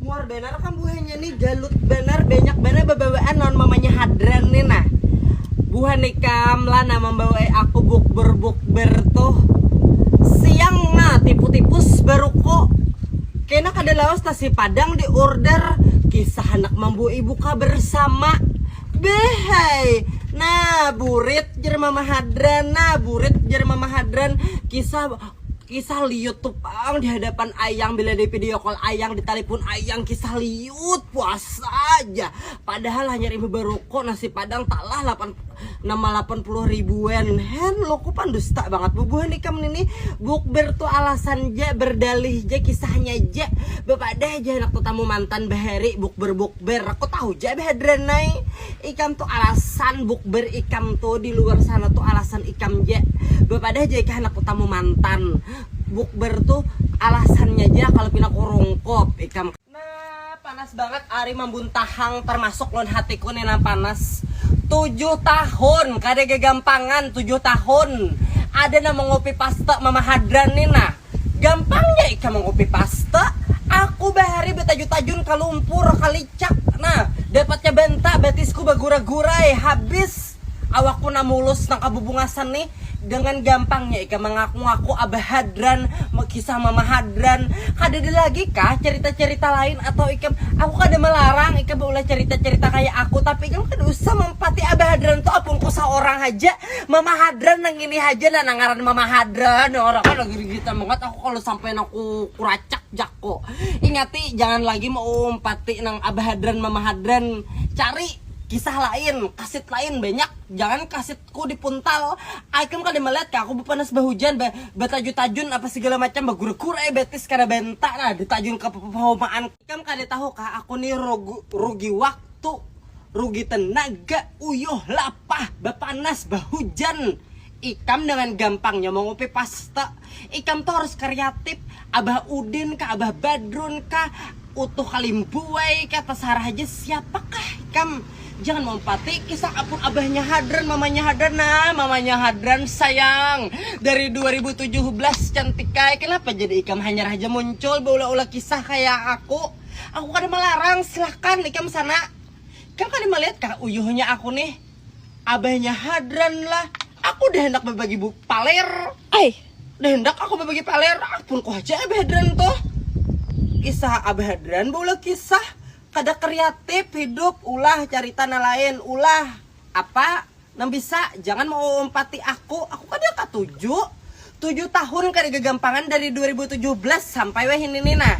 Muar banar kam buhannya nih galut banar banyak banar babawaan lawan mamanya hadran nih nah buhan ikam lah nah mambawai aku bukber bukber tuh siang nah tipu tipus baruko kena kada lawas nasi padang di order kisah handak mambawai buka bersama behai nah burit jer mama hadran nah burit jer mama hadran kisah. Kisah liut tu pang dihadapan ayang bila di video call ayang ditalipun ayang kisah liut puasa ja padahal hanyar imbah baroko nasi padang talah lapan nama lapan puluh ribu en hello ku pandusta bangat bubuhan ikam nini bukber tu alasan ja berdalih ja kisahnya ja bapadah ja handak tetamu mantan bahari bukber buk. Bukber aku tahu ja Hadran nai, ikam tu alasan bukber ikam tu di luar sana tu alasan ikam ja, bapadah ja ikam handak batamu mantan, bukber tu alasannya ja kalu pina kurungkup ikam. Nah panas bangat ari mambuntahang termasuk lawan hatiku ni nah panas, tujuh tahun kada gagampangan tujuh tahun ada nang mangopi paste mama Hadran ni nah. Gampangnya ikam mangopi paste, aku bahari batajun-tajun ka lumpur, ka licak, nah dapatnya banta batisku bagura-gurai, habis awakku nah mulus nang kabubungasan nih, dengan gampangnya ikam mangaku-ngaku abah hadran, kisah mama hadran, kadada lagi kah carita-carita lain atau ikam, aku kada malarang ikam baulah carita-carita kaya aku, tapi ikam kada usah mampati abah hadran tu apunku saorang haja. Mama Hadran nang ini haja nah nang ngaran Mama Hadran nah orang kan lagi gigit banget aku kalau sampai aku kuracak jako ingati jangan lagi mau umpati nang Abah Hadran Mama Hadran cari kisah lain kasit lain banyak jangan kasitku dipuntal ikam kada melihat kah aku bepanas bahujan ba, batajun-tajun apa segala macam bagura-gura betis kada benta nah ditajun ke pahumaan Ikam kada tahu kah aku ni rogu rugi waktu, rugi tenaga, uyuh, lapah, bapanas, bahujan. Ikam dengan gampangnya mangupi pasta. Ikam tu harus kariatip. Abah Udin kah, Abah Badrun kah, Utuh Kalimbuai kah, tasarah haja siapa kah ikam. Jangan mampati kisah apun abahnya hadran mamanya hadran nah mamanya hadran sayang dari dua ribu tujuh belas cantikai kenapa jadi ikam hanyar haja muncul baulah-ulah kisah kaya aku aku kada malarang silahkan ikam sana ikam kada malihat kah uyuhnya aku nih abahnya hadran lah aku dah handak babagi bu paler ai dah handak aku babagi paler apun ku haja abah hadran tuh kisah abah hadran baulah kisah Kada kriatip hidup ulah carita nang lain ulah apa nang bisa jangan mauumpati aku aku kada katuju tujuh tahun kada gagampangan dari dua ribu tujuh belas sampai wahini ni nah.